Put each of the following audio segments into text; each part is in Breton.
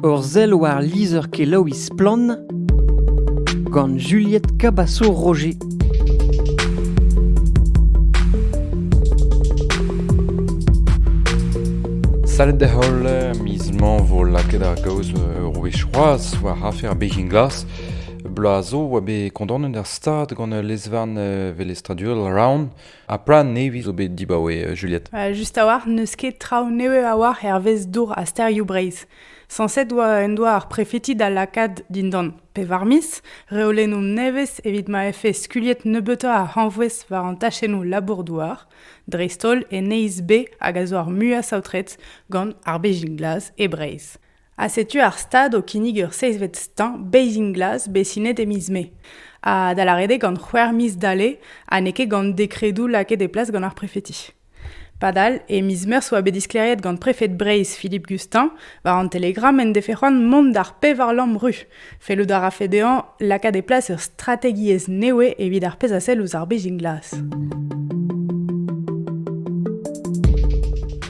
Ur sell war lizher-kelaouiñ Splann! gant Juliette Cabaço-Roger. Salut da-heul miz mañ 'vo lakaet ar gaoz ur wech c'hoazh war afer Beijing Glass. Bloaz 'zo oa bet kondaonet ar stad gant ul lez-varn velestradurel Round Ha plan nevez zo bet dibaoe Juliette Just a-walc'h n'eus ket traoù nevez a-walc'h hervez dour ha stêrioù Breizh. Sañset en doa ar prefeti da lakaat dindan pevar miz reolennoù nevez evit ma vefe skuliet nebeutoc'h a hañvouez war an tachennoù labour-douar, dreist-holl en Neizh B hag a zo ar muiañ saotret gant ar Bezhin Glas e Breizh. Ha setu ar stad o kinnig ur seizhvet stañ Bathing Glass bet sinet e miz Mae. Ha da lâret eo gant c'hwec'h miz dale ha n'eo ket gant dekredoù lakaet e plas gant ar prefeti. Padal, e miz Meurzh 'oa bet disklêriet gant prefed Breizh Philippe Gustin war an Telegram en defe c'hoant mont d'ar pevar lamm ru. Fellout a rafe dezhañ lakaat e plas ur strategiezh newe evit ar pezh a sell ouzh ar bezhin glas.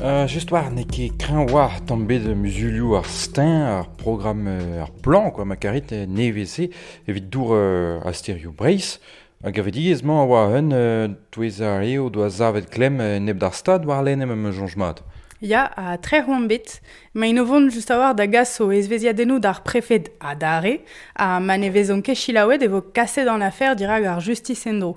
Euh, just war, n'eo ket kreñv war tamm bet muzulioù ar stein, ar programm, euh, ar plan, quoi, ma karit, euh, nevez-se, evit dour euh, a sterioù Breizh. Ar gevredigezh-mañ a oa un touez ar re o doa savet klemm enep d'ar Stad warlene ma 'm eus soñj mat. Ya, ha trec'h omp bet. Maint o vont just a-walc'h da gas o ezvezhiadennoù d'ar prefed adarre ha ma ne vezont ket selaouet e vo kaset an afer dirak ar justis en-dro.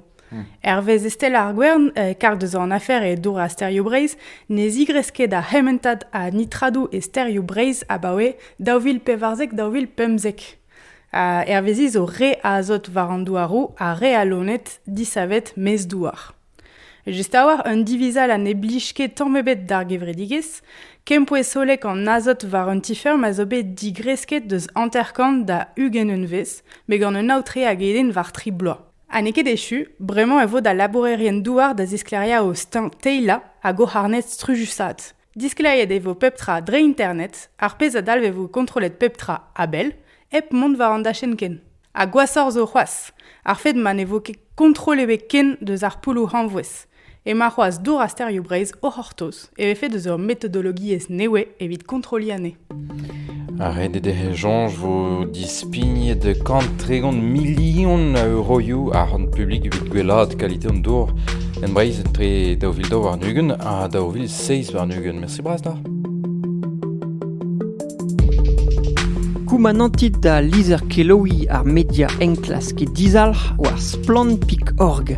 Hervez Estelle ar Gwern, karg deus an afer e dour ha sterioù Breizh, ne zigresk ket ar c'hementad a nitradoù e sterioù Breizh abaoe daou vil pevarzek-daou vil pemzek. Hervezi zo re azot war an douaroù ha re a loened disavet maez-douar. Just a-walc'h un divizall ha ne blij ket tamm ebet d'ar gevredigezh, kempouez hollek an azot war un ti-feurm a zo bet digresket deus hanter-kant da ugent unvezh, met gant un aotre hag eden war tri bloaz. Ha n'eo ket echu, bremañ e vo da labourerien-douar da zisklêriañ o steuñv teilañ hag o c'harned strujusaat. Diskleriet e vo pep tra dre internet, ar pezh a dalvevo kontrollet pep tra a-bell, hep mont war an dachenn ken. Ha gwashoc'h zo c'hoazh, ar fed ma ne vo ket kontrol ebet ken deus ar poulloù hañvouez. Emañ c'hoazh Dour ha Stereo Breizh o c'hortoz e vefe deus ur metodologiezh nevez evit kontrolliñ anezhe. Renet ec'h echañs 'vo dispignet kant tregont milion a euroioù ar c'hont publik evit gwellaat kalite an dour en Breizh etre daou vil daou warn-ugent ha daou vil seizh warn-ugent. Mersi bras da. Koumanantit da lizher-kelaouiñ ar media enklask e dizalc'h war splann.org.